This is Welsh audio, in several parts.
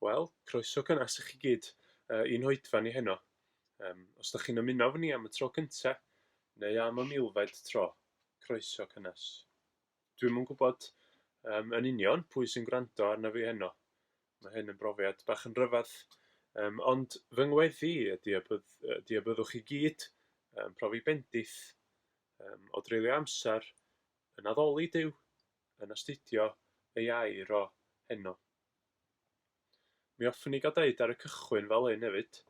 Wel, croeso cynnes i chi gyd uh, i'n hoedfa ni heno. Um, os da chi'n ymuno fy ni am y tro cynta, neu am y milfed tro, croeso cynnes. Dwi'n mwyn gwybod um, yn union pwy sy'n gwrando arna fi heno. Mae hyn yn brofiad bach yn rhyfedd. Um, ond fy ngweddi ydy y, bydd, ydy y byddwch chi gyd um, profi bendith um, o dreulio amser yn addoli Dyw yn astudio ei air o heno. Mi hoffwn i gael deud ar y cychwyn fel hyn hefyd,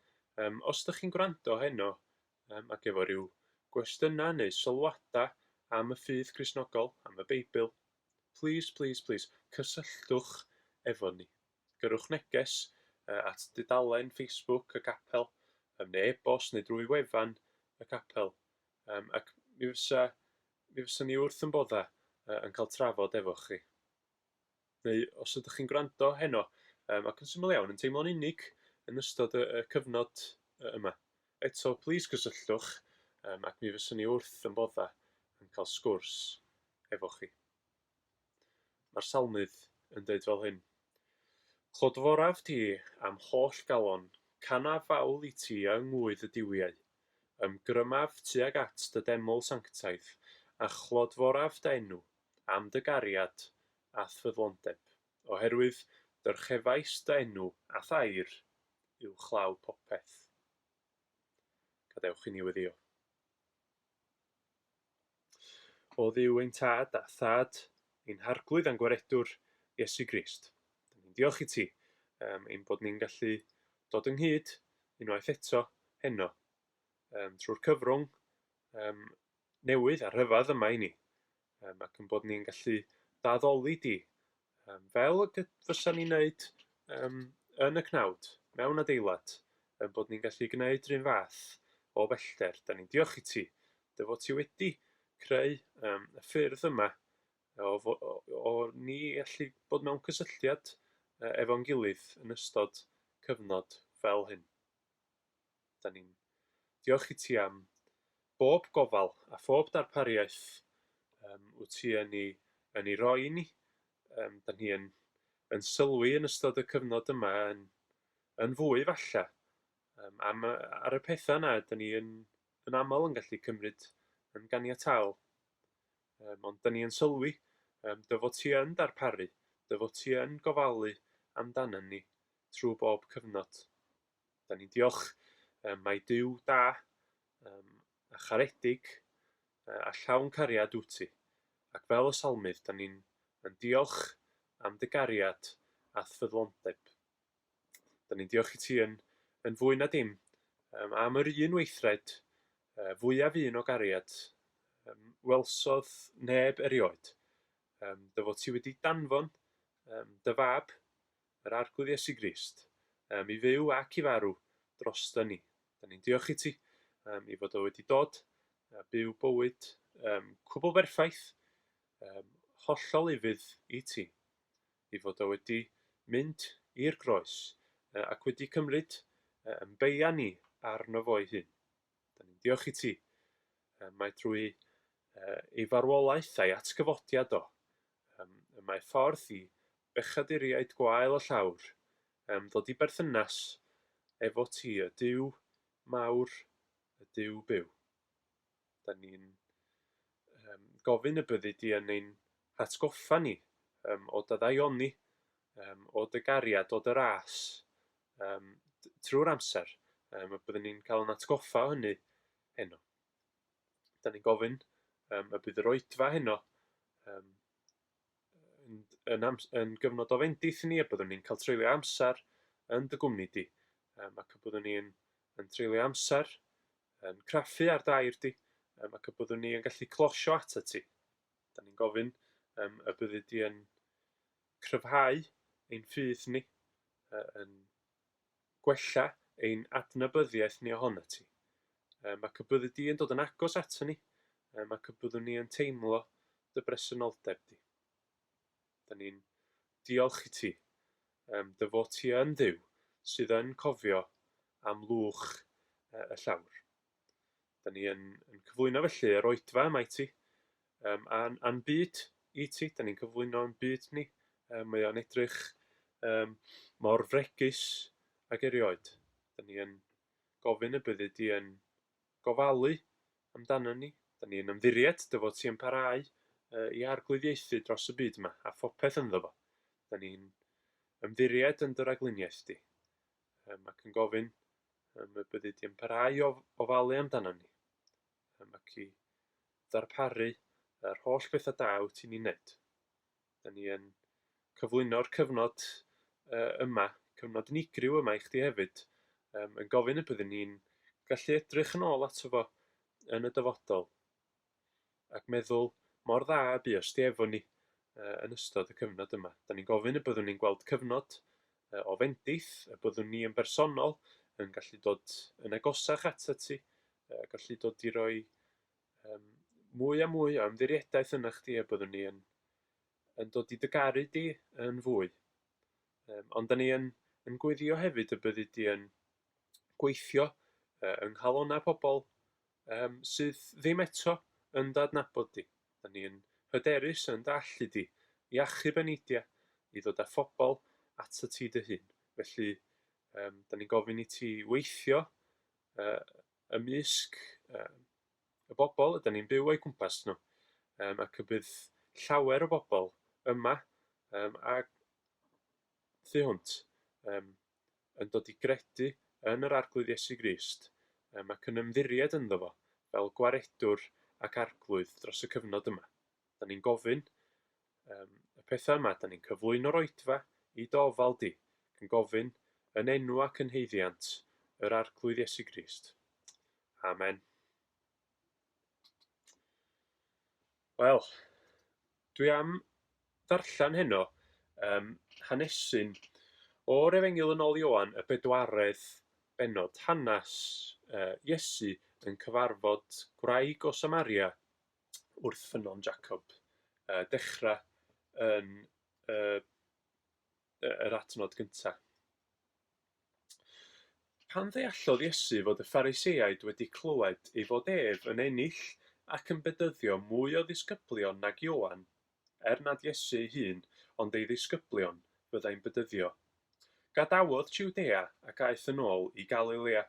um, os ydych chi'n gwrando heno um, ac efo rhyw gwestiynau neu sylwadau am y ffydd Crisnogol, am y Beibl, please, please, please, cysylltwch efo ni. Gyrwch neges uh, at dudalen Facebook y capel, um, neu e-bost neu drwy wefan y capel. Um, ac mi fysa Mi fyswn i wrth 'y mboddau yy yn cael trafod efo chi. Neu os ydych chi'n gwrando heno yym ac yn syml iawn yn teimlo'n unig yn ystod y y cyfnod yy yma, eto plîs cysylltwch yym ac mi fyswn i wrth 'y mboddau yn cael sgwrs efo chi. Mae'r Salmydd yn deud fel hyn, Clodforaf ti a'm holl galon, canaf fawl i ti yng ngŵydd y duwiau. Ymgrymaf tuag at dy deml sanctaidd, a chlodforaf dy enw, am dy gariad a'th ffyddlondeb, oherwydd dyrchefais dy enw a'th air uwchlaw popeth. Gadewch i ni weddïo. Oedd Duw ein Tad a Thad ein Harglwydd a'n Gwaredwr, Iesu Grist. Dyn ni'n diolch i ti um, ein bod ni'n gallu dod ynghyd unwaith eto heno um, trwy'r cyfrwng um, newydd a rhyfedd yma i ni. Yym, ac yn bod ni'n gallu d'addoli di, um, fel y fysa ni'n neud um, yn y cnawd, mewn adeilad, yn bod ni'n gallu gwneud rhywun fath o bellter. Da ni'n diolch i ti, dy fod ti wedi creu um, y ffyrdd yma o, o, o, o ni allu bod mewn cysylltiad efo'n gilydd yn ystod cyfnod fel hyn. 'dan ni'n diolch i ti am bob gofal a phob darpariaeth yym wyt ti yn ei yn ei roi i ni. Yym 'dan ni yn yn sylwi yn ystod y cyfnod yma yn yn fwy falle yym am y ar y petha 'na 'dan ni yn yn amal yn gallu cymryd yn ganiataol. Yym ond 'dan ni yn sylwi yym dy fod ti yn darparu, dy fod ti yn gofalu amdanon ni trw bob cyfnod. Da ni'n diolch. Um, mae Dyw da, um, a charedig, uh, a llawn cariad wyt ti. Ac fel y salmydd, da ni'n yn diolch am dy gariad a ffyddlondeb. Da ni'n diolch i ti yn, yn fwy na dim um, am yr un weithred uh, fwyaf un o gariad um, welsodd neb erioed. Um, dy fod ti wedi danfon um, dy fab Yr Arglwydd Iesu Grist, yym, i fyw ac i farw droston ni. Da ni'n diolch i ti, yym, i fod o wedi dod a byw bywyd yym, cwbl berffaith, yym, hollol ufudd i ti, i fod o wedi mynd i'r groes yy, ac wedi cymryd yy, yn beia ni arno fo'i hun. Da ni'n diolch i ti, yy, mae drwy yy, ei farwolaeth a'i atgyfodiad o, Yym, y mae ffordd i bechaduriaid gwael y llawr yym ddod i berthynas efo ti, y Duw mawr, y Duw byw. Da ni'n um, gofyn y byddi di yn ein hatgoffa ni um, o daddaioni, um, o dy gariad, o dy ras, um, trwy'r amser, um, a byddwn ni'n cael yn atgoffa o hynny heno. dan ni'n gofyn um, y bydd yr oedfa heno um, yn, yn, am, yn gyfnod o fendith ni a byddwn ni'n cael treulio amser yn dy gwmni di um, ac y byddwn ni'n yn treulio amser yn craffu ar dair di um, ac y byddwn ni'n gallu closio at y ti. Da ni'n gofyn um, y byddu di yn cryfhau ein ffydd ni uh, yn gwella ein adnabyddiaeth ni ohonat ti. Yy, mae dy byddu di yn dod yn agos aton ni, yy, mae dy byddwn ni yn teimlo dy bresenoldeb di. Da ni'n diolch i ti, um, dy fod ti yn dduw sydd yn cofio am lwch y llawr. Dan ni yn, yn cyflwyno felly yr oedfa yma i ti, um, a'n, a byd i ti. Dan ni'n cyflwyno'n byd ni. Um, mae o'n edrych um, mor fregus ag erioed. Dan ni yn gofyn y byddu di yn gofalu amdano ni. Dan ni'n ymddiried dy fod ti yn parhau uh, i arglwyddiaethu dros y byd yma a phopeth ynddo fo. Dan ni'n ymddiried yn dy ragluniaeth di. um, ac yn gofyn um, y byddi di yn parhau o ofalu amdano ni, um, ac i ddarparu yr holl bethau da wyt ti'n ei wneud. Da ni yn cyflwyno'r cyfnod uh, yma, cyfnod unigryw yma i chdi hefyd, um, yn gofyn y byddwn ni'n gallu edrych yn ôl ato fo yn y dyfodol. ac meddwl mor dda y bu os di efo ni yy yn ystod y cyfnod yma. 'Dan ni'n gofyn y byddwn ni'n gweld cyfnod yy o fendith, y byddwn ni yn bersonol yn gallu dod yn agosach atat ti, yy gallu dod i roi um, mwy a mwy o ymddiriedaeth yna chdi, a byddwn ni yn, yn dod i dygaru di yn fwy. Um, ond da ni yn, yn gweddio hefyd y byddu di yn gweithio uh, yng nghalona pobl Yym, sydd ddim eto yn dy adnabod di. Da ni yn hyderus yn dy allu di i achub eneidia, i ddod â phobl atat ti dy hun. Felly, yym, da ni'n gofyn i ti weithio yy ymysg yy y bobl ydyn ni'n byw o'i gwmpas nhw, yym, ac y bydd llawer o bobl yma yym a thu hwnt, yym, yn dod i gredu yn yr Arglwydd Iesu Grist yym ac yn ymddiried ynddo fo fel Gwaredwr ac Arglwydd dros y cyfnod yma. Da ni'n gofyn um, y pethau yma, da ni'n cyflwyno'r oedfa i dy ofal di, yn gofyn yn enw ac yn heiddiant yr Arglwydd Iesu Grist. Amen. Wel, dwi am ddarllen heno, yym, hanesyn, o'r Efengyl yn ôl Ioan, y bedwaredd bennod, hanes yy Iesu yn cyfarfod gwraig o Samaria wrth Ffynnon Jacob, yy dechra yn yy yy yr adnod gynta. Pan ddeallodd Iesu fod y Phariseaid wedi clywed ei fod ef yn ennill ac yn bedyddio mwy o ddisgyblion nag Ioan, er nad Iesu ei hun ond ei ddisgyblion fyddai'n bedyddio, gadawodd Jiwdea ac aeth yn ôl i Galilea.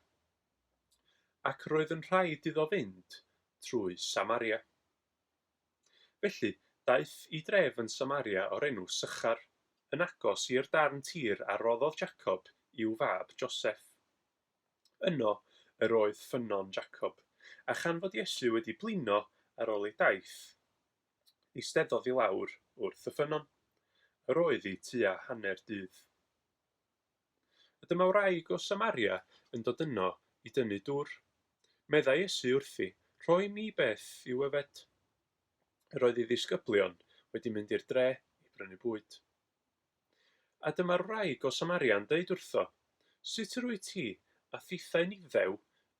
Ac roedd yn rhaid iddo fynd trwy Samaria. Felly, daeth i dref yn Samaria o'r enw Sychar, yn agos i'r darn tir a roddodd Jacob i'w fab Joseff. Yno yr oedd ffynnon Jacob, a chan fod Iesu wedi blino ar ol ei daith, eisteddodd i lawr wrth y ffynnon. Yr oedd i tua hanner dydd. A dyma wraig o Samaria yn dod yno i dynnu dwr. Meddai Iesu wrthi, Rhoi mi beth i'w yfed. Yr oedd ei ddisgyblion wedi mynd i'r dre i brynu bwyd. A dyma'r wraig o Samaria yn deud wrtho, Sut yr wyt ti, a thithau'n Iddew,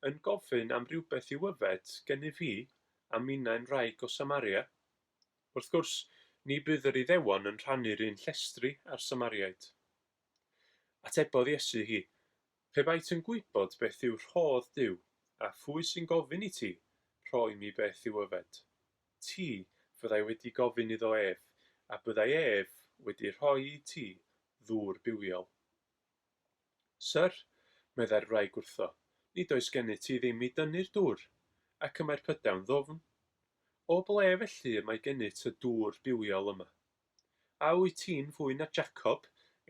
yn gofyn am rywbeth i'w yfed gennyf fi, a minnau'n wraig o Samaria? Wrth gwrs, ni bydd yr Iddewon yn rhannu'r un llestri â'r Samariaid. Atebodd Iesu hi, Pe baet yn gwybod beth yw rhodd Duw, a phwy sy'n gofyn i ti, Rhoi mi beth i'w yfed, ti fyddai wedi gofyn iddo ef, a byddai ef wedi rhoi i ti ddŵr bywiol. Syr, meddai'r wraig wrtho, nid oes gennyt ti ddim i dynnu'r dŵr, ac y mae'r pydewn ddwfn. O ble felly y mae gennyt y dŵr bywiol yma? A wyt ti'n fwy na Jacob,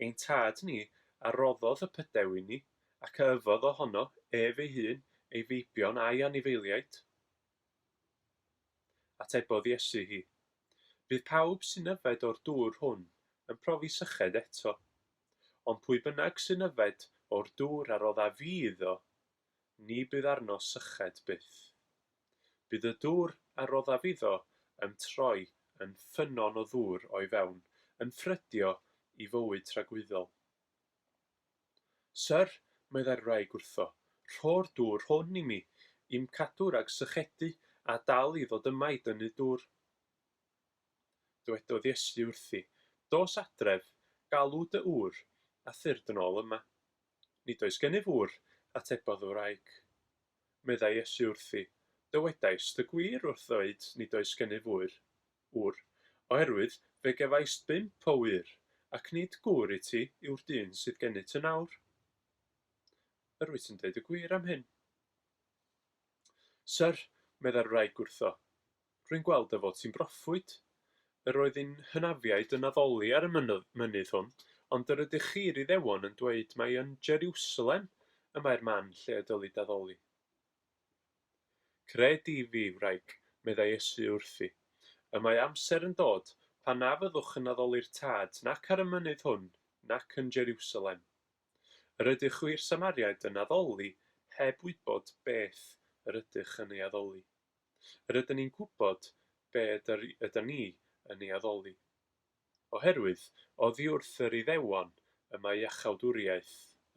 ein tad ni, a roddodd y pydew i ni, ac a yfodd o hono, ef ei hun, ei feibion a'i anifeiliaid? Atebodd Iesu hi, Bydd pawb sy'n yfed o'r dŵr hwn yn profi syched eto, ond pwy bynnag sy'n yfed o'r dŵr a rodda fi iddo, ni bydd arno syched byth. Bydd y dŵr a roddaf iddo yn troi yn ffynnon o ddŵr o'i fewn, yn ffrydio i fywyd tragwyddol. Syr, meddai'r wraig wrtho, rho'r dŵr hwn i mi, i'm cadw rhag sychedu a dal i ddod yma i dynnu dŵr. Dwedodd Iesu wrthi, Dos adref, galw dy ŵr, a thyrd yn ôl yma. Nid oes gennyf ŵr, atebodd y wraig. Meddai Iesu wrthi, Dywedaist y gwir wrth ddweud nid oes gennyf ŵyr, ŵr, oherwydd fe gefaist bump o wŷr, ac nid gŵr i ti yw'r dyn sydd genyt yn awr. Yr wyt yn deud y gwir am hyn. Syr, meddai'r wraig wrtho, Rwy'n gweld dy fod ti'n broffwyd. Yr oedd ein hynafiaid yn addoli ar y mynydd hwn, ond yr ydych chi, i'r Iddewon, yn dweud mai yn Jeriwsalem y mae'r man lle y dylid addoli. Cred i fi, wraig, meddai Iesu wrthi, y mae amser yn dod pan na fyddwch yn addoli'r Tad nac ar y mynydd hwn nac yn Jeriwsalem. Yr ydych chwi'r Samariaid yn addoli heb wybod beth yr ydych yn ei addoli. Rydyn ni'n gwybod be ydyn ni yn ei addoli. Oherwydd, oddi wrth yr Iddewon y mae iachawdwriaeth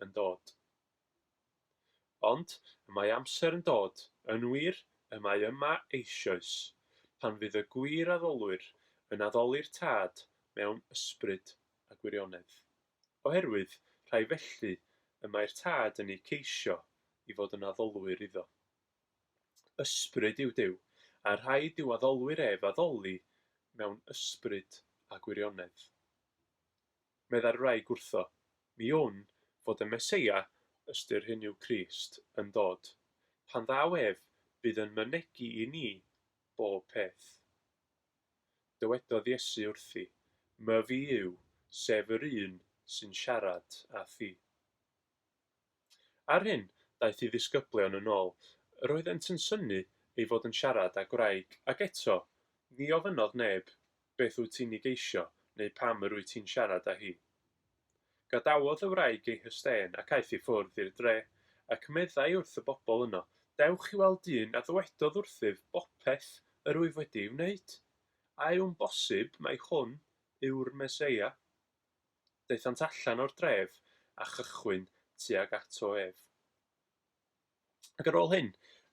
yn dod. Ond, y mae amser yn dod, yn wir, y mae yma eisioes, pan fydd y gwir addolwyr yn addoli'r Tad mewn ysbryd a gwirionedd. Oherwydd, rhai felly, y mae'r Tad yn eu ceisio i fod yn addolwyr iddo. Ysbryd yw Duw, a rhaid i'w addolwyr ef addoli mewn ysbryd a gwirionedd. Meddai'r wraig wrtho, Mi wn fod y Meseia, ystyr hyn yw Crist, yn dod. Pan ddaw ef, bydd yn mynegi i ni bob peth. Dywedodd Iesu wrthi, Myfi yw, sef yr un sy'n siarad â thi. Ar hyn, daeth ei ddisgyblion yn ôl. Yr oeddent yn synnu ei fod yn siarad â gwraig, ac eto, ni ofynnodd neb, Beth wyt ti'n ei geisio? neu Pam yr wyt ti'n siarad â hi? Gadawodd y wraig ei hysten ac aeth i ffwrdd i'r dre, ac meddai wrth y bobl yno, Dewch i weld dyn a ddywedodd wrthyf bopeth yr wyf wedi ei wneud. A yw'n bosib mai hwn yw'r Meseia? Daethant allan o'r dref a chychwyn tuag ato ef. Ac ar ôl hyn,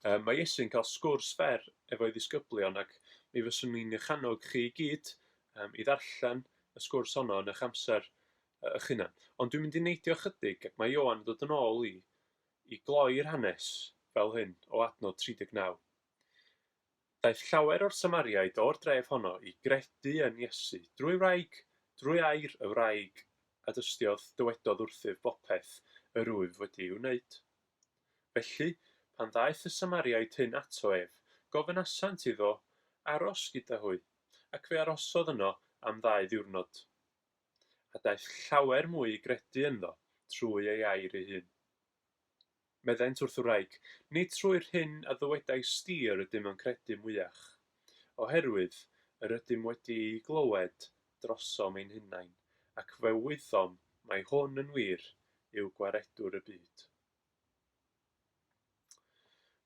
um, mae Iesu'n cael sgwrs fer efo'i ddisgyblion ac mi fyswn i'n eich annog chi i gyd um, i ddarllen y sgwrs honno yn eich amser uh, eich hunan. Ond dwi'n mynd i neidio chydig ac mae Ioan yn dod yn ôl i, i gloi'r hanes fel hyn o adnod 39. Daeth llawer o'r Samariaid o'r dref honno i gredu yn Iesu drwy wraig, drwy air y wraig a dystiodd, dywedodd wrthyf bopeth yr wyf wedi ei wneud. Felly, pan ddaeth y Samariaid hyn ato ef, gofynasant iddo aros gyda hwy, ac fe arosodd yno am ddau ddiwrnod. A daeth llawer mwy i gredu ynddo trwy ei air ei hun. Meddent wrth wraig, Nid trwy'r hyn a ddywedais di yr ydym yn credu mwyach, oherwydd yr ydym wedi ei glywed drosom ein hunain, ac fe wyddom mai hwn yn wir yw Gwaredwr y byd.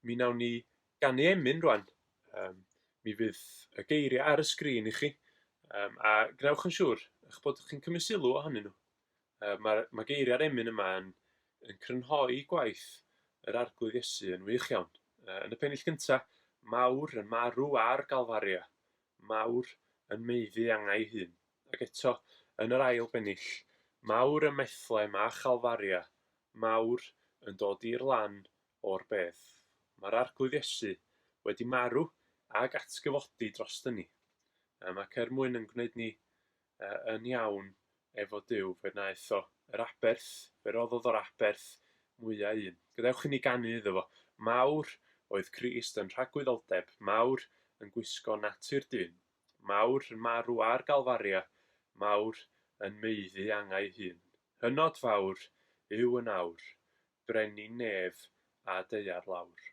Mi wnawn ni ganu emyn rwan. Um, mi fydd y geiriau ar y sgrin i chi, um, a gwnewch yn siŵr eich bod chi'n cymryd sylw ohonyn nhw. Yy ma'r ma' geiria'r emyn yma yn yn crynhoi gwaith yr Arglwydd Iesu yn wych iawn. Yy yn y pennill gynta, mawr yn marw ar Galfaria, mawr yn maeddu angau hun. Ac eto, yn yr ail bennill, mawr ym Methlehem a Chalfaria, mawr yn dod i'r lan o'r bedd. Ma'r Arglwydd Iesu wedi marw ag atgyfodi droston ni. Yym ac er mwyn yn gwneud ni Yy, yn iawn, efo Duw, fe wnaeth o. Yr aberth, fe roddodd o'r aberth mwya un. Gadewch inni ganu iddo fo. Mawr oedd Crist yn rhagwyddoldeb, mawr yn gwisgo natur dyn, mawr yn marw ar Galfaria, mawr yn maeddu angau hun. Hynod fawr yw yn awr, brenin nef a deuar lawr.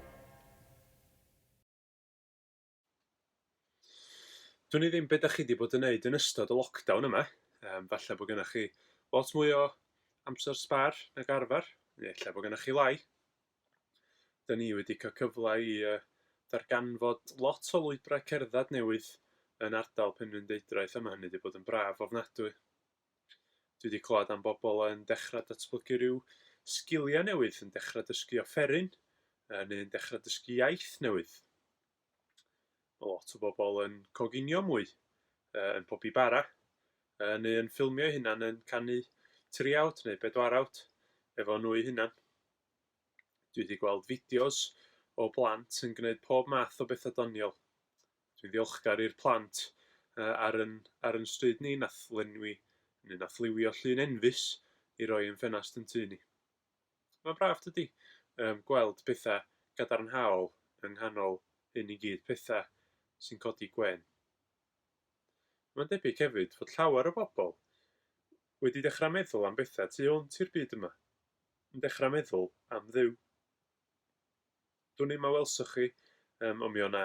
Dwn i ddim be' 'dach chi 'di bod yn neud yn ystod y lockdown yma, yym falle bo' gynnoch chi lot mwy o amser sbâr nag arfer, neu ella bo' gynnoch chi lai. 'Dyn ni wedi ca'l cyfle i yy darganfod lot o lwybrau cerddad newydd yn ardal Penrhyndeudraeth a ma' hynny 'di bod yn braf ofnadwy. Dwi 'di clywed am bobl yn dechra datblygu rhyw sgilia newydd, yn dechra dysgu offeryn, yy neu'n dechra dysgu iaith newydd. Ma' lot o bobl yn coginio mwy, yy yn pobi bara, yy neu yn ffilmio'u hunan yn canu triawd neu bedwarawd efo nhw'u hunan. Dwi 'di gweld fideos o blant yn gneud pob math o betha doniol. Dwi'n ddiolchgar i'r plant ar yn ar yn stryd ni nath lenwi neu nath liwio llun enfys i roi yn ffenast yn tŷ ni. Mae'n braf dydi? Yym gweld pethau gadarnhaol yng nghanol hyn i gyd, pethau sy'n codi gwên. Mae'n debyg hefyd fod llawer o bobl wedi dechrau meddwl am bethau tu hwnt i'r byd yma, yn dechrau meddwl am Dduw. Dwn i'm a welsoch chi, yym, ond mi o' 'na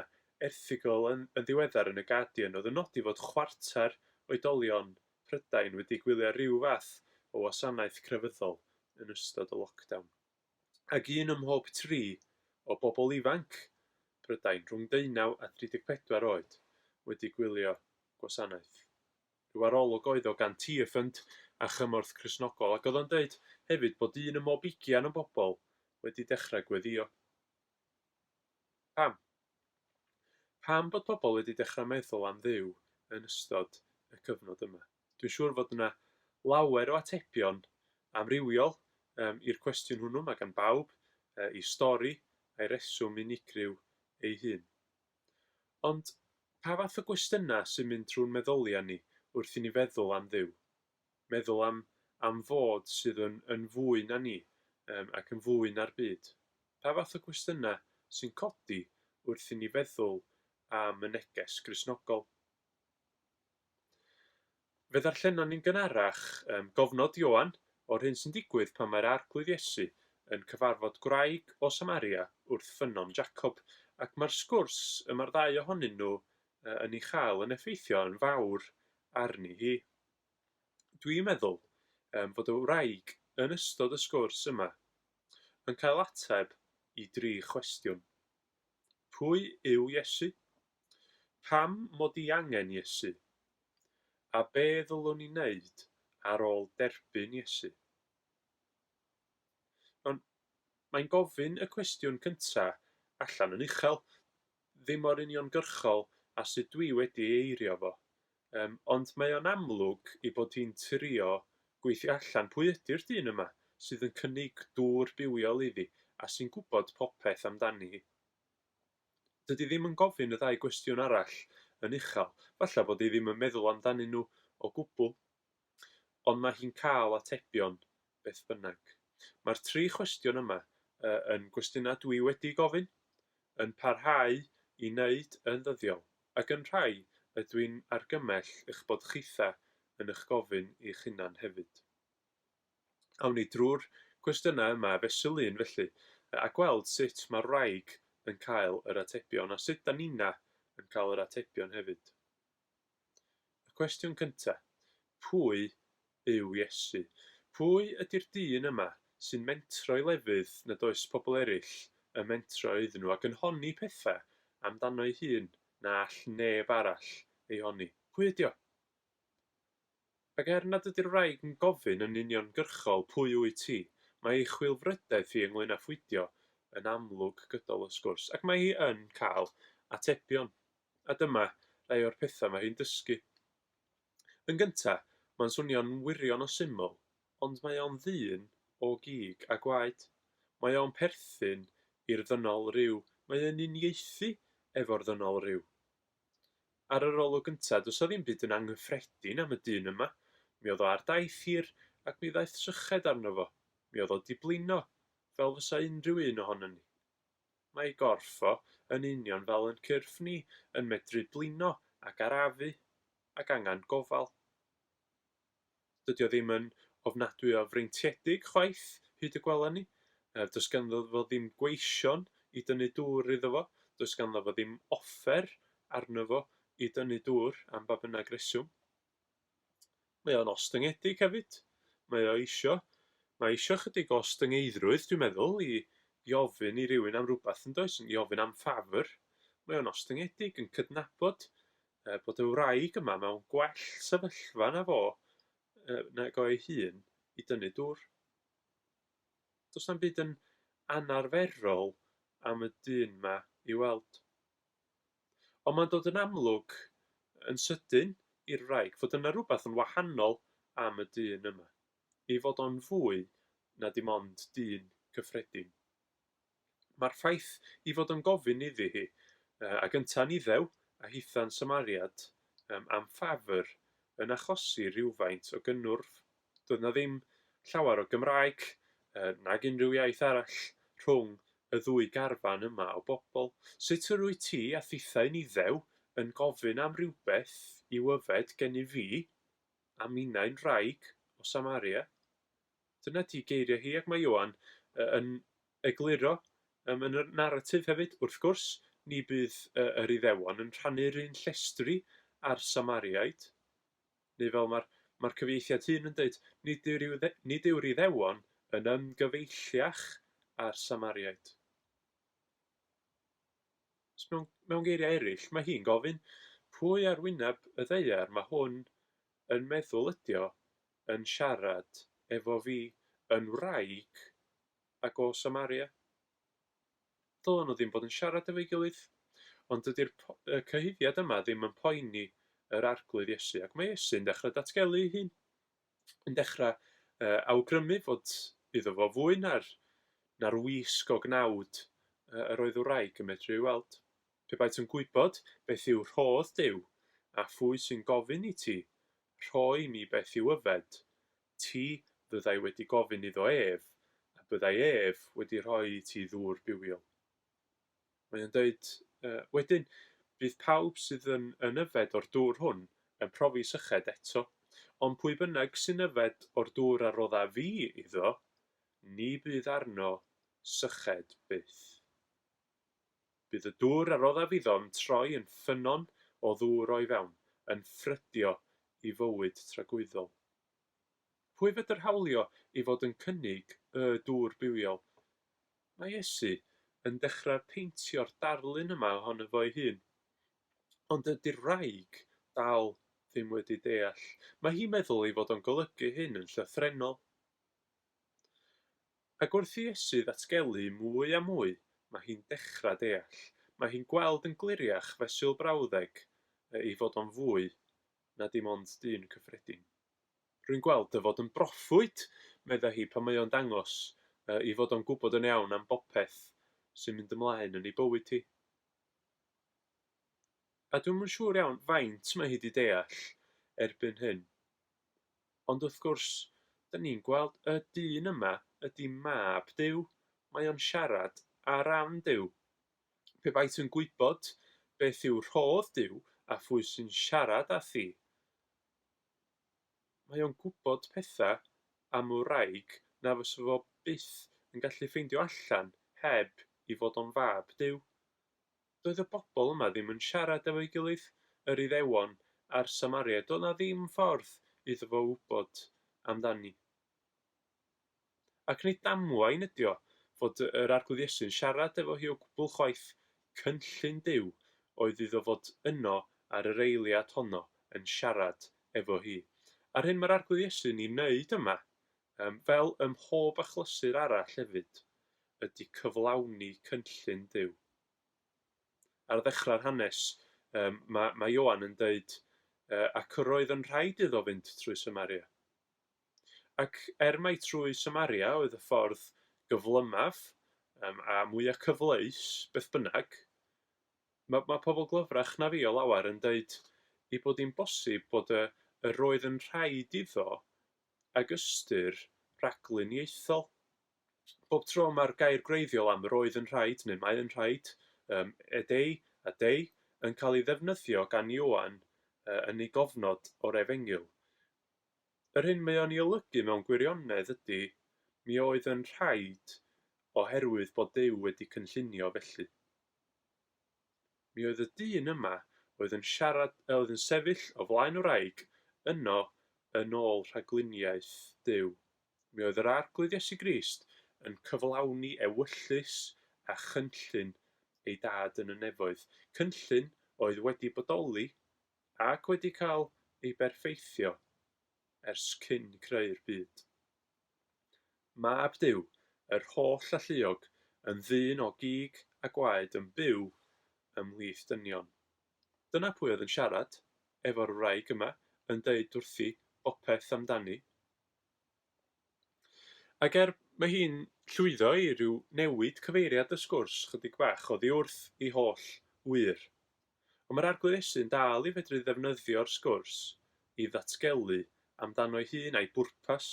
erthygl yn yn ddiweddar yn y Guardian oedd yn nodi fod chwarter oedolion Prydain wedi gwylio ryw fath o wasanaeth crefyddol yn ystod y lockdown. Ac un ym mhob tri o bobl ifanc Prydain rhwng deunaw a 34 oed wedi gwylio gwasanaeth. Rhyw arolwg oedd o gan Tearfund a Chymorth Cristnogol ac oedd o'n deud hefyd bod un ym mhob ugian o'n bobl wedi dechrau gweddïo. Pam? Pam bod pobl wedi dechrau meddwl am Dduw yn ystod y cyfnod yma? Dwi'n siŵr fod yna lawer o atebion amrywiol um, i'r cwestiwn hwnnw, mae gan bawb uh, ei stori a'i reswm unigryw ei hun. Ond, pa fath o gwestiynau sy'n mynd trwy'n meddyliau ni wrth i ni feddwl am Dduw? Meddwl am am Fod sydd yn yn fwy na ni yym ac yn fwy na'r byd? Pa fath o gwestiynau sy'n codi wrth i ni feddwl am y neges Gristnogol? Fe ddarllenon ni'n gynharach yym gofnod Ioan o'r hyn sy'n digwydd pan mae'r Arglwydd Iesu yn cyfarfod gwraig o Samaria wrth ffynnon Jacob, ac mae'r sgwrs y mae'r ddau ohonyn nhw yy yn ei chael yn effeithio yn fawr arni hi. Dwi'n meddwl yym fod y wraig yn ystod y sgwrs yma yn cael ateb i dri chwestiwn. Pwy yw Iesu? Pam mod i angen Iesu? A be ddylwn i wneud ar ôl derbyn Iesu? Ond mae'n gofyn y cwestiwn cynta' allan yn uchel, ddim mor uniongyrchol â sut dwi wedi ei eirio fo, Yym, ond mae o'n amlwg ei bod hi'n trio gweithio allan pwy ydi'r dyn yma sydd yn cynnig dŵr bywiol iddi a sy'n gwybod popeth amdani hi. Dydi ddim yn gofyn y ddau gwestiwn arall yn uchel, falla bod hi ddim yn meddwl amdanyn nhw o gwbl. ond mae hi'n cael atebion, beth bynnag. Mae'r tri chwestiwn yma yn gwestiynau dwi wedi gofyn, yn parhau i wneud yn ddyddiol, ac yn rhai y dwi'n argymell eich bod chitha yn eich gofyn i'ch hunan hefyd. Awn ni drwy'r cwestiynau yma fesul un felly, a gweld sut mae'r wraig yn cael yr atebion, a sut da nina yn cael yr atebion hefyd. Y cwestiwn cyntaf, pwy yw Iesu? Pwy ydy'r dyn yma sy'n mentro i lefydd nad oes pobl eraill yn mentro iddyn nhw ac yn honni pethau amdano'i hun na all neb arall ei honni? Pwy ydy o? Ac er nad ydy'r wraig yn gofyn yn uniongyrchol 'pwy wyt ti', mae ei chwilfrydedd hi ynglŷn â phwydio yn amlwg gydol y sgwrs, ac mae hi yn cael atebion. A dyma rai o'r pethau mae hi'n dysgu. Yn gyntaf, mae'n swnio'n wirion o syml, ond mae o'n ddyn o gig a gwaed. Mae o'n perthyn i'r ddynol ryw, mae o'n uniaethu efo'r ddynol ryw. Ar yr olwg gynta, does 'na ddim byd yn anghyffredin am y dyn yma. Mi oedd o ar daith hir, ac mi ddaeth syched arno fo. Mi oedd o 'di blino, fel fysa unrhyw un ohonon ni. Mae ei gorff o, yn union fel yn cyrff ni, yn medru blino ac arafu, ac angan gofal. Dydy o ddim yn ofnadwy o freintiedig chwaith, hyd y gwela ni. Does ganddo fo ddim gweision i dynnu dŵr iddo fo, does ganddo fo ddim offer arno fo i dynnu dŵr am ba bynnag reswm. Mae o'n ostyngedig hefyd. Mae o eisio, mae eisio chydig o ostyngeiddrwydd, dwi'n meddwl, i, i ofyn i rywun am rhywbeth yn does, i ofyn am ffafr. Mae o'n ostyngedig, yn cydnabod Er bod y wraig yma mewn gwell sefyllfa na fo nag o ei hun i dynnu dŵr. Does na'm byd yn anarferol am y dyn 'ma i weld. Ond mae'n dod yn amlwg yn sydyn i'r wraig fod yna rhywbeth yn wahanol am y dyn yma, ei fod o'n fwy na dim ond dyn cyffredin. Mae'r ffaith ei fod o'n gofyn iddi hi, ag yntau'n Iddew, a hitha'n Samariad, am ffafr, yn achosi rhywfaint o gynnwrf. Doedd 'na ddim llawer o Gymraeg, nag unrhyw iaith arall, rhwng y ddwy garfan yma o bobl. Sut yr wyt ti a thithau'n Iddew yn gofyn am rywbeth i'w yfed gennyf fi, a minnau'n wraig o Samaria? Dyna 'di geiriau hi ac mae Ioan yn egluro yn y naratif hefyd, wrth gwrs, ni bydd yr Iddewon yn rhannu'r un llestri â'r Samariaid, neu fel mae'r mae'r cyfieithiad hŷn yn dweud, nid yw'r nid yw'r Iddewon yn ymgyfeilliach â'r Samariaid. Mewn, mewn geiriau eraill, mae hi'n gofyn pwy ar wyneb y ddeiar mae hwn yn meddwl ydio yn siarad efo fi yn wraig ag o Samaria? Dylen nhw ddim bod yn siarad efo'i gilydd. Ond dydy'r cyhuddiad yma ddim yn poeni yr Arglwydd Iesu, ac mae Iesu'n dechrau datgelu ei hun, yn dechrau uh, awgrymu fod iddo fo fwy na'r, na'r wisg o gnawd uh, yr oedd wraig yn medru ei weld. Pe baet yn gwybod beth yw rhodd Duw, a phwy sy'n gofyn i ti, Rhoi i mi beth i'w yfed, ti fyddai wedi gofyn iddo ef, a byddai ef wedi rhoi i ti ddŵr bywiol. Mae o'n dweud, Wedyn, bydd pawb sydd yn, yn yfed o'r dŵr hwn yn profi syched eto, ond pwy bynnag sy'n yfed o'r dŵr a rodda fi iddo, ni fydd arno syched byth. Bydd y dŵr a roddaf iddo'n troi yn ffynnon o ddŵr o'i fewn, yn ffrydio i fywyd tragwyddol. Pwy fedr hawlio i fod yn cynnig Y Dŵr Bywiol? Mae Iesu yn dechrau peintio'r darlun yma ohono fo'i hun. Ond dydy'r wraig dal ddim wedi deall. Mae hi'n meddwl ei fod o'n golygu hyn yn llythrennol. Ac wrth i Iesu ddatgelu mwy a mwy, mae hi'n dechrau deall, mae hi'n gweld yn gliriach fesul brawddeg y ei fod o'n fwy na dim ond dyn cyffredin. Rwy'n gweld dy fod yn broffwyd, meddai hi pan mae o'n dangos y ei fod o'n gwybod yn iawn am bopeth sy'n mynd ymlaen yn ei bywyd hi. A dwi'm yn siŵr iawn faint mae hi 'di deall erbyn hyn. Ond wrth gwrs, 'dan ni'n gweld y dyn yma ydi Mab Duw, mae o'n siarad ar ran Duw. Pe bai ti'n gwybod beth yw rhodd Duw a phwy sy'n siarad â thi, mae o'n gwybod pethau am wraig na fysa fo byth yn gallu ffeindio allan heb i fod o'n Fab Duw. Doedd y bobl yma ddim yn siarad efo'i gilydd, yr Iddewon a'r Samariaid, doedd 'na ddim ffordd iddo fo wybod amdani. Ac nid damwain ydi o fod yr Arglwydd Iesu'n siarad efo hi o gwbl chwaith, cynllun Duw oedd iddo fod yno ar yr eiliad honno yn siarad efo hi. A'r hyn mae'r Arglwydd Iesu'n ei wneud yma Yym, fel ym mhob achlysur arall hefyd, ydy cyflawni cynllun Duw. Ar ddechrau'r hanes, yym, mae, mae Ioan yn dweud, uh, ac yr oedd yn rhaid iddo fynd trwy Samaria. Ac er mai trwy Samaria oedd y ffordd gyflymaf um, a mwyaf cyfleus, beth bynnag, mae, mae pobl glyfrach na fi o lawer yn dweud ei bod hi'n bosib bod y, yr oedd yn rhaid iddo ag ystyr rhaglen ieithyddol. Bob tro mae'r gair gwreiddiol am yr oedd yn rhaid neu mae yn rhaid, ym, ed ei, ad ei, yn cael ei ddefnyddio gan Ioan yn ei gofnod o'r Efengyl, yr hyn mae o'n ei olygu mewn gwirionedd ydy, mi oedd yn rhaid oherwydd bod Duw wedi cynllunio felly. Mi oedd y dyn yma oedd yn siarad, yy, oedd yn sefyll o flaen wraig yno yn ôl rhagluniaeth Duw. Mi oedd yr Arglwydd Iesu Grist yn cyflawni ewyllys a chynllun ei Dad yn y nefoedd, cynllun oedd wedi bodoli ac wedi cael ei berffeithio ers cyn creu'r byd. Mab Duw, yr holl alluog, yn ddyn o gig a gwaed yn byw ymhlith dynion. Dyna pwy oedd yn siarad efo'r wraig yma yn deud wrthi bopeth amdani. Ac er mae hi'n llwyddo i ryw newid cyfeiriad y sgwrs chydig bach oddi wrth ei holl ŵyr. Ond mae'r Arglwyddesu'n dal i fedru ddefnyddio'r sgwrs i ddatgelu amdano'i hun a'i bwrpas.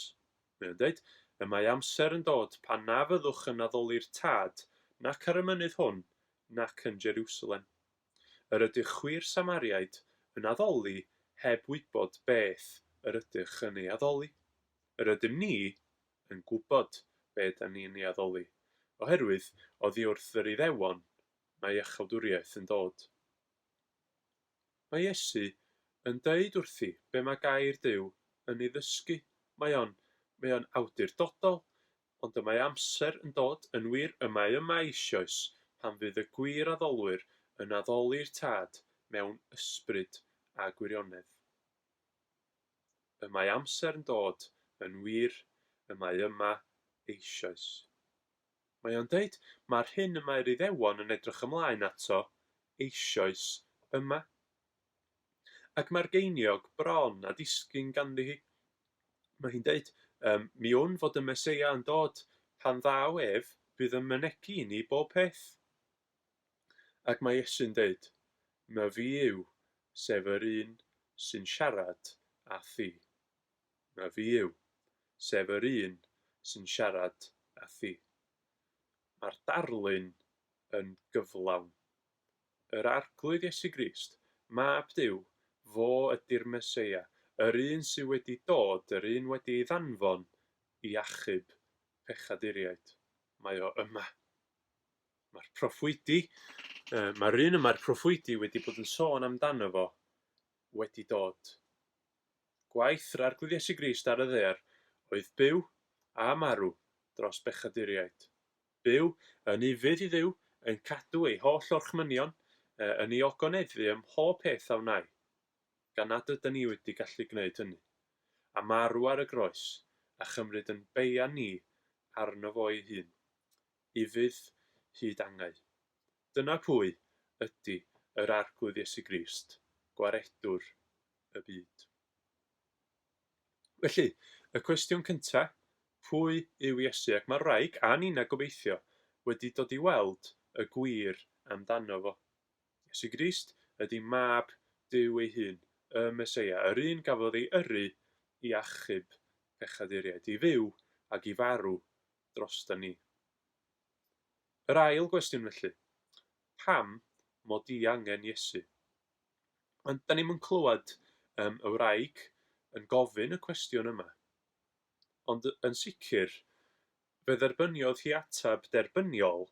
Mae o'n dweud, Y mae amser yn dod pan na fyddwch yn addoli'r Tad nac ar y mynydd hwn nac yn Jerusalem. Yr ydych chwi'r Samariaid yn addoli heb wybod beth yr ydych yn ei addoli. Yr ydym ni yn gwybod be ydan ni yn ei addoli, oherwydd oddi wrth yr Iddewon Mae iachawdwriaeth yn dod. Mae Iesu yn deud wrthi be mae gair Duw yn ei ddysgu, mae o'n, mae o'n awdurdodol, ond y mae amser yn dod, yn wir, y mae yma eisioes, pan fydd y gwir addolwyr yn addoli'r Tad mewn ysbryd a gwirionedd. Y mae amser yn dod, yn wir, y mae yma eisioes. Mae o'n deud, Mae'r hyn y mae'r Iddewon yn edrych ymlaen ato eisoes yma. Ac mae'r geiniog bron â disgyn ganddi hi. Mae hi'n deud, Ym, mi wn fod y Meseia yn dod. Pan ddaw ef, bydd yn mynegi i ni bob peth. Ac mae Iesu'n deud, Mae fi yw, sef yr un sy'n siarad â thi. na fi yw, sef yr un sy'n siarad â thi. Mae'r darlun yn gyflawn. Yr Arglwydd Iesu Grist, Mab Duw, fo ydy'r Meseia, yr un sydd wedi dod, yr un wedi ei ddanfon i achub pechaduriaid. Mae o yma. Mae'r proffwydi, mae'r un y mae'r proffwydi wedi bod yn sôn amdano fo wedi dod. Gwaith yr Arglwydd Iesu Grist ar y ddaear oedd byw, a marw, dros bechaduriaid. Byw, yn ufudd i Dduw, yn cadw ei holl orchmynion, yn ei ogoneddu ym mhob peth a wnai, gan nad yda ni wedi gallu gwneud hynny. A marw ar y groes, a chymryd yn beian ni arno fo ei hun, ufudd hyd angau. Dyna pwy ydi yr Arglwydd Iesu Grist, Gwaredwr y byd. Felly, y cwestiwn cynta, pwy yw Iesu? Ac mae wraig a Nina, gobeithio, wedi dod i weld y gwir amdano fo. Iesu Grist ydy mab Duw ei hun, y Meseia, yr un gafodd ei yrru i achub pechaduriaid, i fyw ac i farw drosto ni. Yr ail gwestiwn felly, pam mod i angen Iesu? Ond 'dan ni'm yn clywed yym y wraig yn gofyn y cwestiwn yma. Ond y- yn sicr, fe dderbyniodd hi ateb derbyniol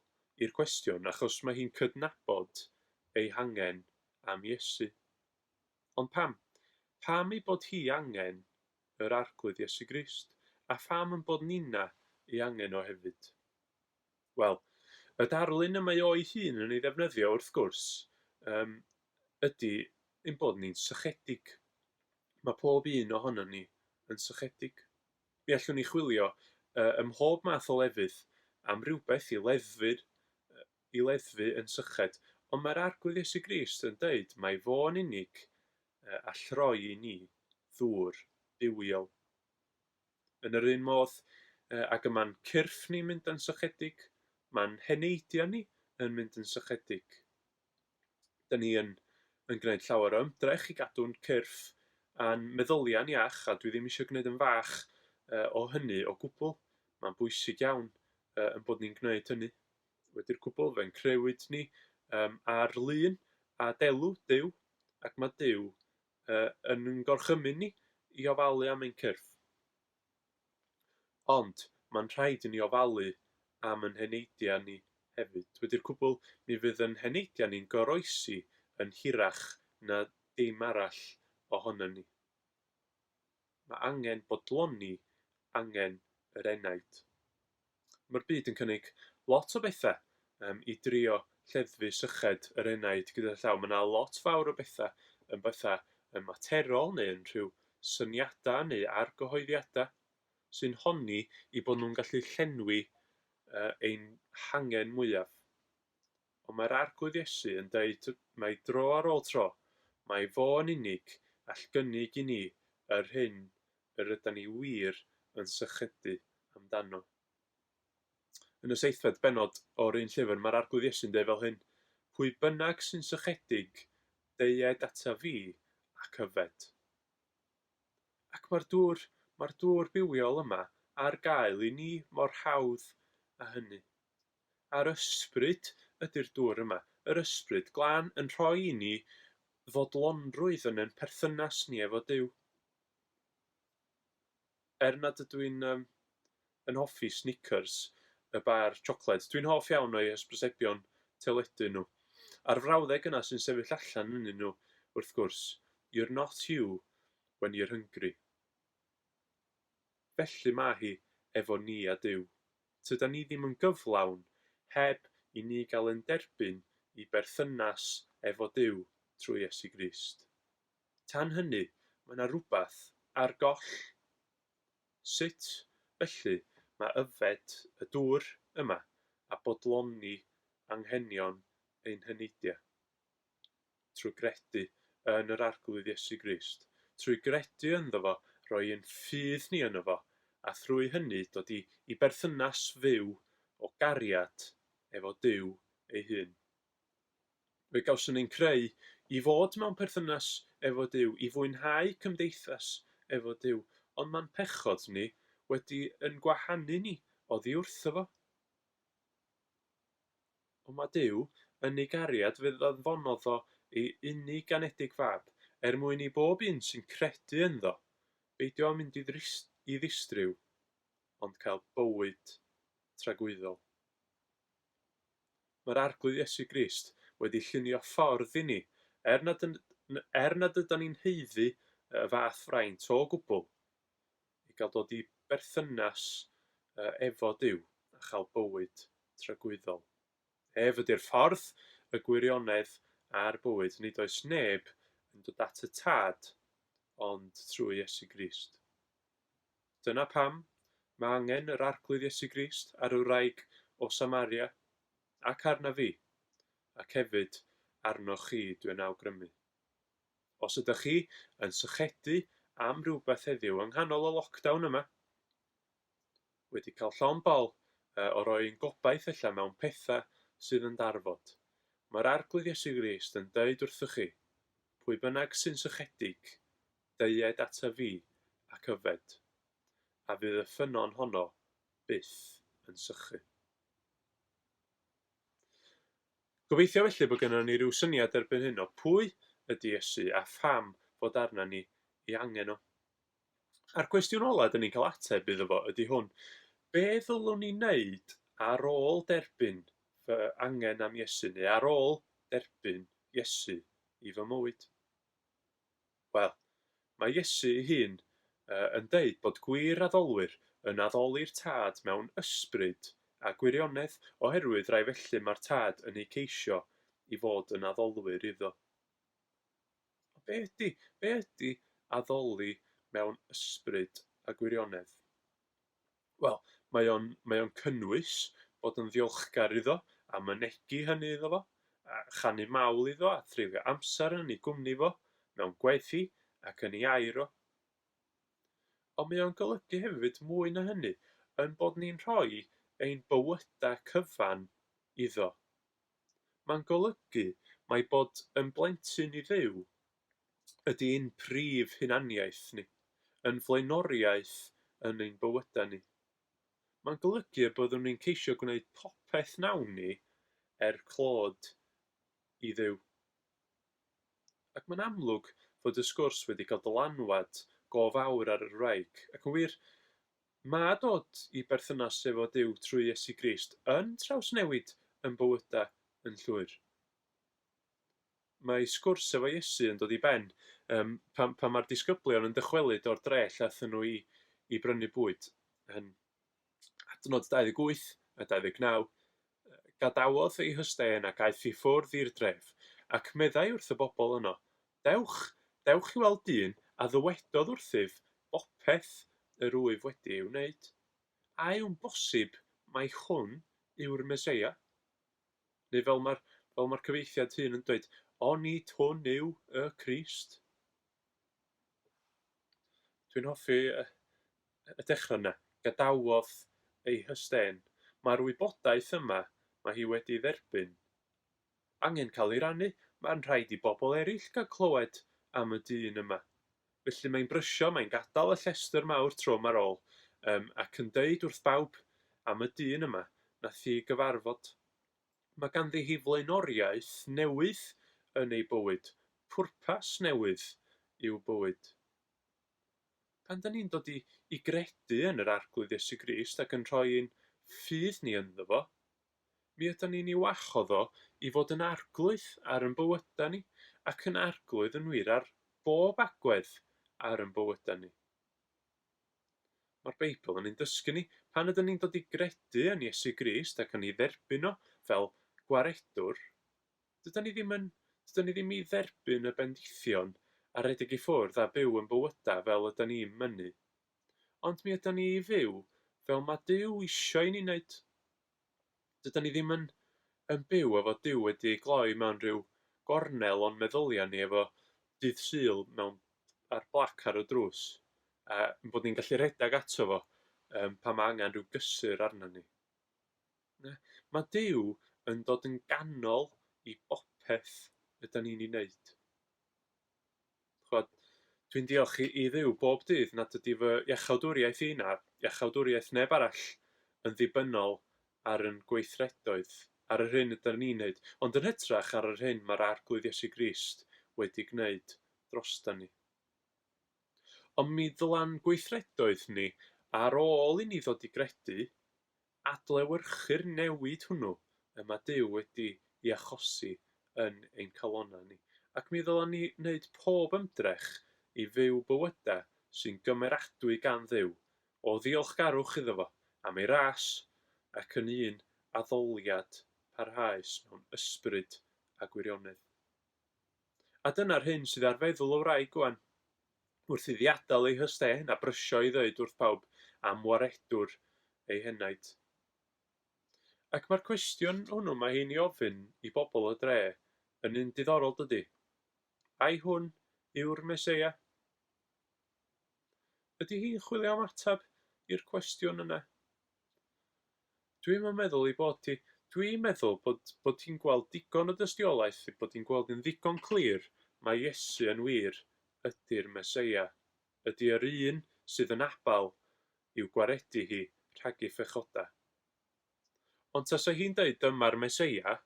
i'r cwestiwn achos mae hi'n cydnabod ei hangen am Iesu. Ond pam? Pam ei bod hi angen yr Arglwydd Iesu Grist? A pham ein bod ninna ei angen o hefyd? Wel, y darlun y mae o'i hun yn ei ddefnyddio, wrth gwrs, yym, ydy ein bod ni'n sychedig. Mae pob un ohonon ni yn sychedig. Mi allwn ni chwilio yy, ym mhob math o lefydd am rywbeth i leddfu'r, i leddfu yn syched, ond mae'r Arglwydd Iesu Grist yn deud mai fo'n unig yy all roi i ni ddŵr bywiol. Yn yr un modd ag y mae'n cyrff ni'n mynd yn sychedig, mae'n heneidiau ni yn mynd yn sychedig. Dyn ni yn, yn gwneud llawer o ymdrech i gadw'n cyrff a'n meddyliau'n iach, a dwi ddim eisiau gwneud yn fach o hynny o gwbl. Mae'n bwysig iawn uh, yn bod ni'n gwneud hynny. Wedi'r cwbl, fe'n crewyd ni um, ar lun a delw Dyw, ac mae Dyw yn ein gorchymyn ni i ofalu am ein cyrff. Ond, mae'n rhaid i ni ofalu am ein heneidiau ni hefyd. Wedi'r cwbl, mi fydd ein heneidiau ni'n goroesi yn hirach na dim arall ohonon ni. Mae angen bodloni angen yr enaid. Mae'r byd yn cynnig lot o bethau um, i drio lleddfu syched yr enaid gyda llaw. Mae yna lot fawr o bethau yn bethau yn materol neu yn rhyw syniadau neu argyhoeddiadau sy'n honni i bod nhw'n gallu llenwi uh, ein hangen mwyaf. Ond mae'r Arglwydd Iesu yn deud mai dro ar ôl tro, mai fo yn unig all gynnig i ni yr hyn yr ydan ni wir yn sychedu amdano. Yn y seithfed bennod o'r un llyfr, mae'r Arglwydd Iesu'n deud fel hyn, Pwy bynnag sy'n sychedig, deued ata fi ac yfed. Ac mae'r dŵr, mae'r dŵr bywiol yma ar gael i ni mor hawdd â hynny. a'r ysbryd ydy'r dŵr yma, yr ysbryd glân, yn rhoi i ni fodlonrwydd yn ein perthynas ni efo Duw. Er nad ydw i'n um, yn hoffi Snickers, y bar siocled, dwi'n hoff iawn o'i hysbrysebion teledu nhw. A'r frawddeg yna sy'n sefyll allan ynnyn nhw, wrth gwrs, You're not you when you're hungry. Felly mae hi efo ni a Duw. Tydan ni ddim yn gyflawn heb i ni gael yn derbyn i berthynas efo Duw trwy Iesu Grist. Tan hynny, mae 'na rwbath ar goll. Sut, felly, mae yfed y dŵr yma a bodloni anghenion ein heneidia? Trwy gredu yn yr Arglwydd Iesu Grist, trwy gredu ynddo fo, rhoi ein ffydd ni yno fo, a thrwy hynny dod i i berthynas fyw o gariad efo Duw ei hun. Fe gawson ein creu i fod mewn perthynas efo Duw, i fwynhau cymdeithas efo Duw, ond mae'n pechod ni wedi yn gwahanu ni oddi wrtho fo. Ond mae Duw yn ei gariad fydd anfonodd o ei unig ganedig fab, er mwyn i bob un sy'n credu ynddo, beidio â mynd i ddistryw, ond cael bywyd tragwyddol. Mae'r Arglwydd Iesu Grist wedi llunio ffordd i ni, er nad, er nad ydan ni'n haeddu y fath fraint o gwbl. i gael dod i berthynas efo Duw a chael bywyd tragwyddol. Ef ydy'r ffordd, y gwirionedd a'r bywyd, nid oes neb yn dod at y Tad ond trwy Iesu Grist. Dyna pam mae angen yr Arglwydd Iesu Grist ar y wraig o Samaria, ac arna fi, ac hefyd arnoch chi dwi'n awgrymu. Os ydych chi yn sychedu am rywbeth heddiw yng nghanol y lockdown yma, wedi cael llond bol o roi ein gobaith allan mewn pethau sydd yn darfod, mae'r Arglwydd Iesu Grist yn deud wrthych chi, Pwy bynnag sy'n sychedig, deued ata fi ac yfed, a fydd y ffynnon honno byth yn sychu. Gobeithio felly bod gynnon ni ryw syniad erbyn hyn o pwy ydy Iesu a pham fod arna ni ei angen o. A'r cwestiwn ola' 'dyn ni'n cael ateb iddo fo ydy hwn, be' ddylwn i neud ar ôl derbyn fy angen am Iesu neu ar ôl derbyn Iesu i fy mywyd? Wel, mae Iesu ei hun yn deud bod gwir addolwyr yn addoli'r Tad mewn ysbryd a gwirionedd oherwydd rai felly mae'r Tad yn eu ceisio i fod yn addolwyr iddo. Ond be ydy, be ydy addoli mewn ysbryd a gwirionedd? Wel, mae o'n... mae o'n cynnwys bod yn ddiolchgar iddo a mynegi hynny iddo fo, a chanu mawl iddo a threulio amser yn ei gwmni fo, mewn gwaith hi ac yn ei air o. Ond mae o'n golygu hefyd mwy na hynny, ein bod ni'n rhoi ein bywydau cyfan iddo. Mae'n golygu mai bod yn blentyn i Dduw ydy ein prif hunaniaeth ni, ein flaenoriaeth yn ein bywydau ni. Mae'n golygu y byddwn ni'n ceisio gwneud popeth wnawn ni er clod i Dduw. Ac mae'n amlwg fod y sgwrs wedi cael dylanwad go fawr ar yr wraig, ac yn wir, mae dod i berthynas efo Duw trwy Iesu Grist yn trawsnewid yn bywydau yn llwyr. Mae sgwrs efo Iesu yn dod i ben yym pan pan mae'r disgyblion yn dychwelyd o'r dre lle aethon nhw i i brynu bwyd. Yn adnod 28 a 29, Gadawodd ei hystên ac aeth i ffwrdd i'r dref, ac meddai wrth y bobl yno, Dewch, dewch i weld dyn a ddywedodd wrthyf bopeth yr wyf wedi ei wneud. A yw'n bosib mai hwn yw'r Meseia? Neu fel mae'r, fel mae'r cyfieithiad hun yn dweud, Onid hwn yw y Crist? Dwi'n hoffi y, y dechrau yna. Gadawodd ei hysten. Mae'r wybodaeth yma, mae hi wedi dderbyn, angen cael ei rannu. Mae'n rhaid i bobl eraill gael clywed am y dyn yma. Felly mae'n brysio, mae'n gadael y llestr mawr trwm ar ôl, yym, ac yn deud wrth bawb am y dyn yma, nath hi gyfarfod. Mae ganddi hi flaenoriaeth newydd yn ei bywyd, pwrpas newydd i'w bywyd. Pan da ni'n dod i, i gredu yn yr Arglwydd Iesu Grist ac yn rhoi ein ffydd ni ynddo fo, Mi ydan ni'n ei wahodd o i fod yn arglwydd ar yn bywyda ni, ac yn arglwydd yn wir ar bob agwedd ar yn bywyda ni. Mae'r Beibl yn ein dysgu ni, pan ydyn ni'n dod i gredu yn Iesu Grist ac yn ei dderbyn o fel Gwaredwr, dydan ni ddim yn, dydan ni ddim i dderbyn y bendithion a rhedeg i ffwrdd a byw yn bywyda fel ydyn ni'n mynnu Ond mi ydan ni i fyw fel ma' Duw isio i ni neud. Dydan ni ddim yn yn byw efo Duw wedi ei gloi mewn rhyw gornel o'n meddylia ni efo Dydd Sul mewn a'r blac ar y drws, a ein bod ni'n gallu rhedag ato fo yym pan ma' angen rhyw gysur arnon ni. Na, ma' Duw yn dod yn ganol i bopeth ydan ni'n ei neud. chimod, dwi'n diolch i i Dduw bob dydd nad ydy fy iachawdwriaeth i na iachawdwriaeth neb arall yn ddibynnol ar ein gweithredoedd, ar yr hyn ydym ni'n wneud, ond yn hytrach ar yr hyn mae'r Arglwydd Iesu Grist wedi gwneud droston ni. Ond mi ddyla'n gweithredoedd ni, ar ôl i ni ddod i gredu, Adlewyrchu'r newid hwnnw y mae Duw wedi ei achosi yn ein calonnau ni, ac mi ddylem ni wneud pob ymdrech i fyw bywydau sy'n gymeradwy gan Dduw, o ddiolchgarwch iddo fo am ei ras, ac yn un addoliad parhaus mewn ysbryd a gwirionedd. A dyna'r hyn sydd ar feddwl y wraig ŵan. wrth iddi adael ei hyst ên a brysio i ddweud wrth bawb am waredwr ei henaid. Ac mae'r cwestiwn hwnnw mae hi'n ei ofyn i bobl y dre yn un diddorol dydy? Ai hwn yw'r Meseia? Ydy hi'n chwilio am ateb i'r cwestiwn yna? Dwi'm yn meddwl ei bod hi. Dwi'n meddwl bod, bod hi'n gweld digon o dystiolaeth ei bod hi'n gweld yn ddigon clir mai Iesu yn wir ydi'r Meseia, ydi yr un sydd yn abal i'w gwaredu hi rhagi phechoda. Ond tasa hi'n deud dyma'r Meseia,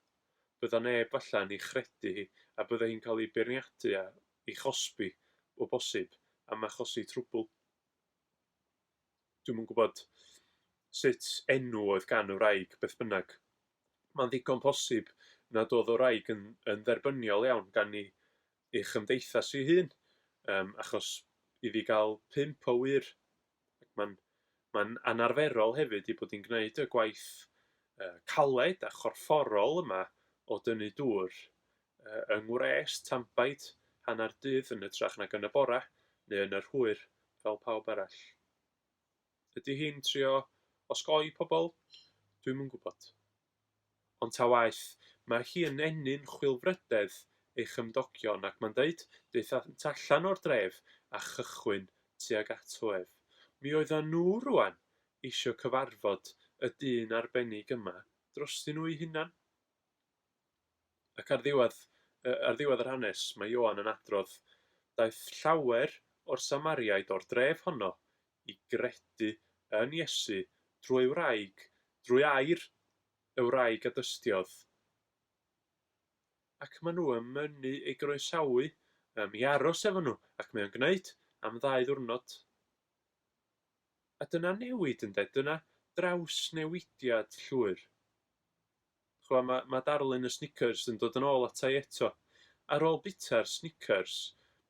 bydda neb falla'n ei chredu hi a bydda hi'n cael ei beirniadu a ei chosbi, o bosib, am achosi trwbl. dwi'm yn gwybod sut enw oedd gan y wraig, beth bynnag. Mae'n ddigon posib nad oedd y wraig yn, yn dderbyniol iawn gan ei, ei chymdeithas ei hun, um, achos i fi gael pimp o wir, mae'n ma anarferol hefyd i bod i'n gwneud y gwaith uh, caled a chorfforol yma o dynnu dŵr Yng ngwres tanbaid, hanner dydd yn hytrach nag yn y bore neu yn yr hwyr, fel pawb arall. Ydy hi'n trio osgoi pobl? Dwi'm yn gwybod. Ond ta waeth, mae hi yn ennyn chwilfrydedd ei chymdogion ac mae'n dweud, daethant allan o'r dref a chychwyn tuag ato ef. Mi oeddan nhw rŵan eisiau cyfarfod y dyn arbennig yma drostyn nhw'u hunan. Ac ar ddiwedd, ar ddiwedd yr hanes, mae Ioan yn adrodd, Daeth llawer o'r Samariaid o'r dref honno i gredu yn Iesu drwy ei wraig, drwy air y wraig a dystiodd. Ac maen nhw yn mynnu ei groesawu um, i aros efo nhw, ac mae o'n gwneud am ddau ddwrnod. A dyna newid, ynde? Dyna drawsnewidiad llwyr. Ch'mo' ma' ma' darlun y Snickers yn dod yn ôl ata i eto. Ar ôl bita'r Snickers,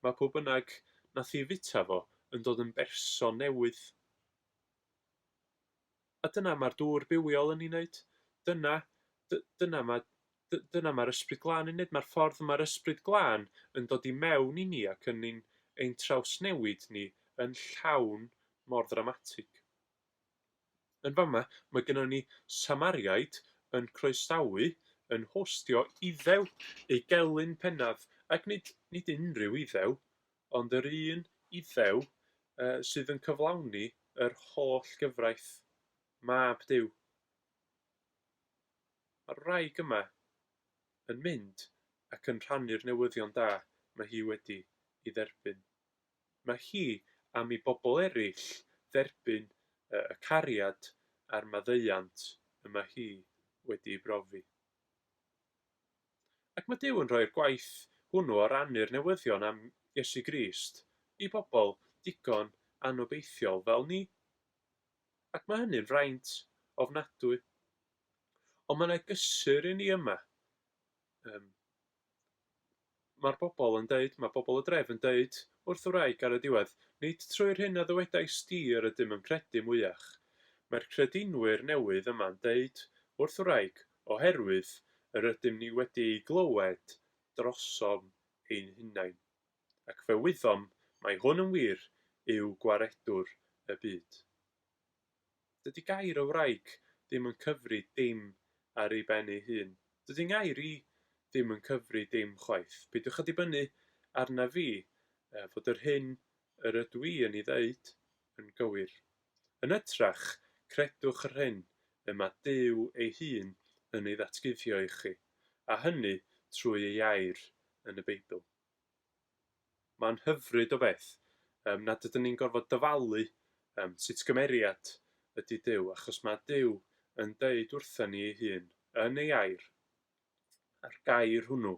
ma' pw bynnag nath i fita fo yn dod yn berson newydd. A dyna ma'r dŵr bywiol yn 'i neud. Dyna dy- dyna ma' dy- dyna ma'r Ysbryd Glân yn neud, ma'r ffordd ma'r Ysbryd Glân yn dod i mewn i ni ac yn ein ein trawsnewid ni yn llawn mor ddramatig. Yn fama, mae gynnon ni Samariaid yn croesawu, yn hostio Iddew, ei gelyn pennaf, ac nid, nid unrhyw Iddew, ond yr un Iddew sydd yn cyflawni yr holl gyfraith, Mab Duw. Mae'r wraig yma yn mynd ac yn rhannu'r newyddion da mae hi wedi ei dderbyn. Mae hi am i bobl eraill dderbyn y cariad a'r maddeuant y mae hi wedi'i brofi. Ac mae Duw yn rhoi'r gwaith hwnnw o rannu'r newyddion am Iesu Grist i bobl digon anobeithiol fel ni. Ac mae hynny'n fraint ofnadwy. Ond mae 'na gysur i ni yma, ym Mae'r bobl yn deud, mae pobl y dref yn deud wrth y wraig ar y diwedd, nid trwy'r hyn a ddywedais di yr ydym yn credu mwyach. Mae'r credinwyr newydd yma'n deud wrth y wraig, oherwydd yr ydym ni wedi ei glywed drosom ein hunain. Ac fe wyddom mai hwn yn wir yw Gwaredwr y byd. Dydy gair o wraig ddim yn cyfri dim ar ei ben ei hun. Dydy ngair i ddim yn cyfri dim chwaith. Peidiwch â dibynnu arnaf fi fod yr hyn yr ydw i yn ei ddeud yn gywir. Yn ytrach, credwch yr hyn y mae Duw ei hun yn ei ddatguddio i chi, a hynny trwy ei air yn y Beibl. Mae'n hyfryd o beth yym nad ydyn ni'n gorfod dyfalu yym sut gymeriad ydy Duw, achos mae Duw yn deud wrthyn ni ei hun, yn ei air, a'r gair hwnnw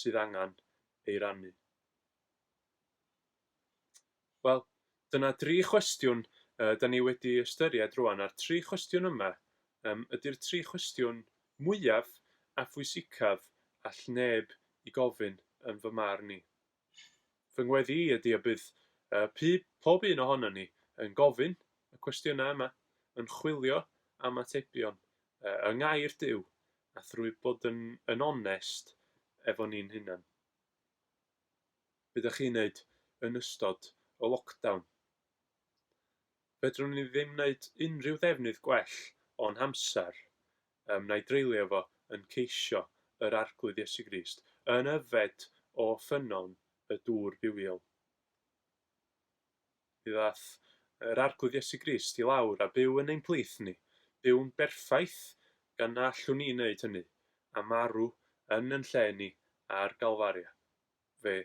sydd angen ei rannu. Wel, dyna dri chwestiwn yy 'dan ni wedi ystyried rŵan, a'r tri chwestiwn yma yym ydi'r tri chwestiwn mwyaf a phwysicaf all neb 'u gofyn yn fy marn i. Fy ngweddi i ydi y bydd yy pu- pob un ohonon ni yn gofyn y cwestiynau yma, yn chwilio am atebion yy yng Ngair Duw a thrwy bod yn yn onest efo ni'n hunan. Be dach chi'n wneud yn ystod y lockdown? Fedrwn i ddim wneud unrhyw ddefnydd gwell o'n hamser, yym, na i dreulio fo yn ceisio yr Arglwydd Iesu Grist, yn yfed o ffynnon y dŵr bywiol. Mi ddaeth yr Arglwydd Iesu Grist i lawr a byw yn ein plith ni, byw'n berffaith gan na allwn ni wneud hynny, a marw yn yn lle ni ar Galfaria. fe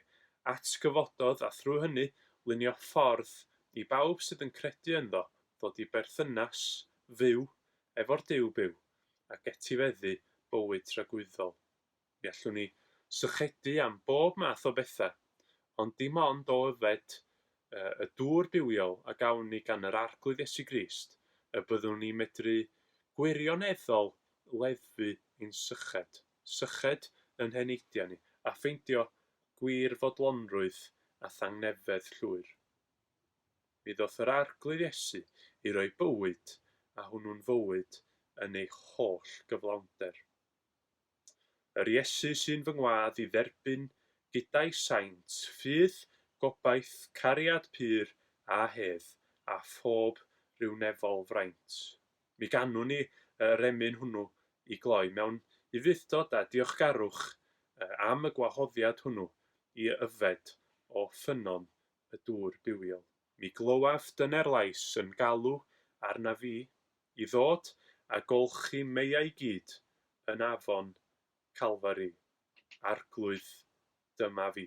atgyfododd a thrwy hynny lunio ffordd i bawb sydd yn credu ynddo ddod i berthynas fyw efo'r Duw byw ac etifeddu bywyd tragwyddol. Mi allwn ni sychedu am bob math o bethau, ond dim ond o yfed y dŵr bywiol a gawn ni gan yr Arglwydd Iesu Grist y byddwn ni'n medru gwirioneddol leddfu ein syched. syched yn heneiddia ni, a ffeindio gwir fodlonrwydd a thangnefedd llwyr. Mi ddoth yr Arglwydd Iesu i roi bywyd, a hwnnw'n fywyd yn ei holl gyflawnder. Yr Iesu sy'n fy ngwadd i dderbyn gyda'i saint ffydd, gobaith, cariad pur a hedd, a phob rhywnefol fraint. Mi ganwn ni y remyn hwnnw i gloi mewn ufudd-dod a diolchgarwch am y gwahoddiad hwnnw i yfed o ffynnon y dŵr bywiol. Mi glywaf dyner lais yn galw arnaf fi i ddod a golchi meiau gyd yn afon Calfari. Arglwydd, dyma fi.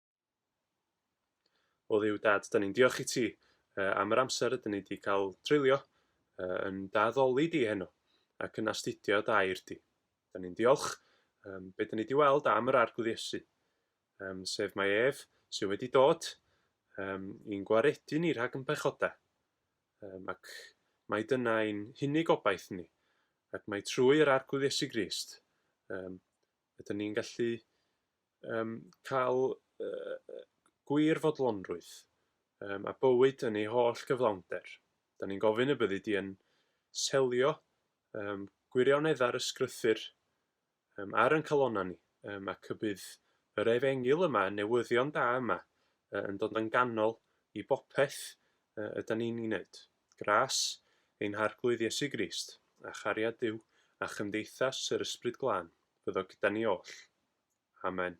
O dduw dad, da ni'n diolch i ti uh, am yr amser ydyn ni wedi cael treulio uh, yn daddoli di heno ac yn astudio dair di. Da ni'n diolch um, beth da ni wedi weld am yr arglwydd Iesu, um, sef mae ef sydd wedi dod um, i'n gwaredu ni rhag yn pechodau. Um, ac mae dyna ein hunig obaith ni. Ac mae trwy yr arglwydd Iesu Grist, um, Ydyn ni'n gallu yym cael yy gwir fodlonrwydd yym a bywyd yn ei holl gyflawnder? Ydyn ni'n gofyn y byddi di yn selio yym gwirioneddau'r ysgrythur yym ar yn calonnau ni yym ac y bydd yr efengyl yma, y newyddion da yma, yn dod yn ganol i bopeth ydyn ni'n ei wneud? Gras, ein Harglwydd Iesu Grist, a chariad Duw, a chymdeithas yr Ysbryd Glân, fyddo gyda ni oll. Amen.